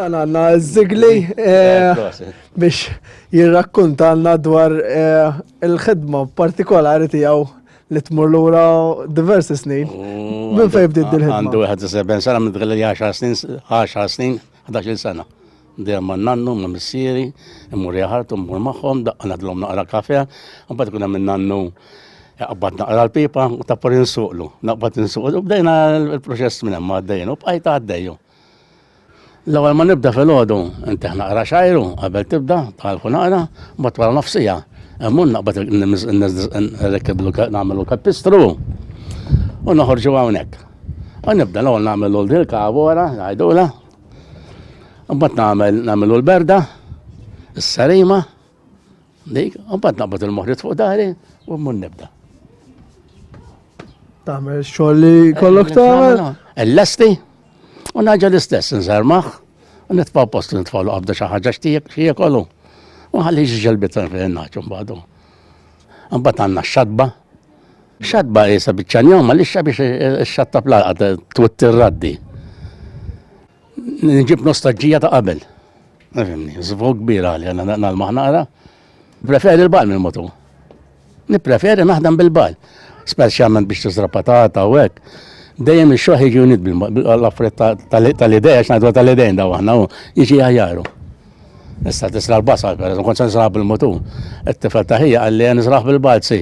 Għan għanna Zigli eh, biex jirrakkuntalna dwar eh, il-ħidma partikolari tijaw li tmur l-ura diversi snin. Mm, Minn fej bdiet dil-ħidma? Għandu 71 sena, minn dħil 10 snin, 10 snin, 11 sena. Dejjem ma' nannu, ma' missieri, immur jaħartu, mmur magħhom, daqqa nagħdilhom naqra kafe, imbagħad ikun hemm in-nannu jaqbad naqra l-pipa u tappar insuqlu, naqbad insuqlu, bdejna l-proċess minn hemm għaddejn u bqajt għaddejju. L-ewwel ma nibda fil-ħodu, inteħ naqra xajru qabel tibda, talfu naqra, mbagħad wara nofsija. Emmur naqbad nirrekkiblu nagħmlu kapistru u noħorġu hawnhekk. U nibda l-ewwel nagħmel l-old il-kavora, ngħidula, Mbagħad nagħmel nagħmlu l-berda, is-sarima, dik, mbagħad naqbad il-moħrit fuq dari u mmur nibda. Tagħmel xogħol li kollok tagħmel? Ellesti u naġa l-istess nżarmaħ u nitfaw post li nitfaw qabda xi ħaġa xi kollu. U ħalli ġelbit fejn naġu mbagħadu. Mbagħad għandna x-xatba, Xatba jisa bieċan jom, ma lixxa biex xatta plaqa twit raddi. Nġib nostalġija ta' qabel. Nifimni, zvog kbira li għanna nalmaħ naqra. Preferi l-bal minn motu. Nipreferi naħdem bil-bal. Speċjalment biex tużra patata u hekk. Dejjem ix-xoħ jiġi unit bil-affret tal-ideja, xnajdu tal-idejn daw aħna u jiġi ħajjaru. Issa tisra l-basal, per eżempju, kont nisra bil-motu. Et-tifel taħija għalli nisraħ bil-balzi.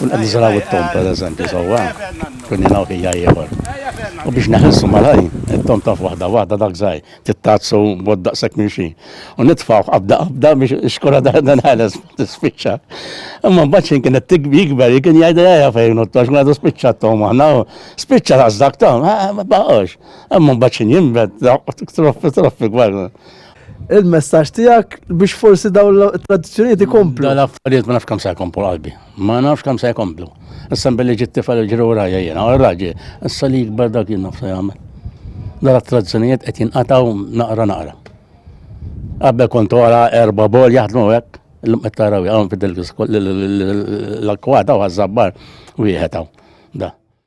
Kun qed niżraw it-tom pereżempju sewwa, kun jingħu ħija ieħor. U biex neħilsu malaj, it-tom taf waħda waħda dak żgħir, tittazzu bod daqshekk minn xi. U nitfgħu qabda qabda biex ix-xkura daħda nħeles tispiċċa. Imma mbagħad xejn kien qed jikber, kien jgħid ejja fejn u tox ngħidu spiċċa t-tom aħna, spiċċa dak tom, ma baqgħux. Imma mbagħad xejn jinbed, troppi troppi gwerra. il-messaġġ tiegħek biex forsi dawn l-tradizzjonijiet ikomplu. Dawn l-affarijiet ma nafx kemm se jkomplu qalbi. Ma nafx kemm se jkomplu. Issa billi ġiet tifel ġri wrajja jiena, u raġi, issa li jikber dak jien nafsa jagħmel. Dawn l-tradizzjonijiet qed jinqataw naqra naqra. Qabel kont wara erba' bol jaħdmu hekk, illum qed taraw hawn fid l-akkwata u għażabbar wieħed hawn. Da.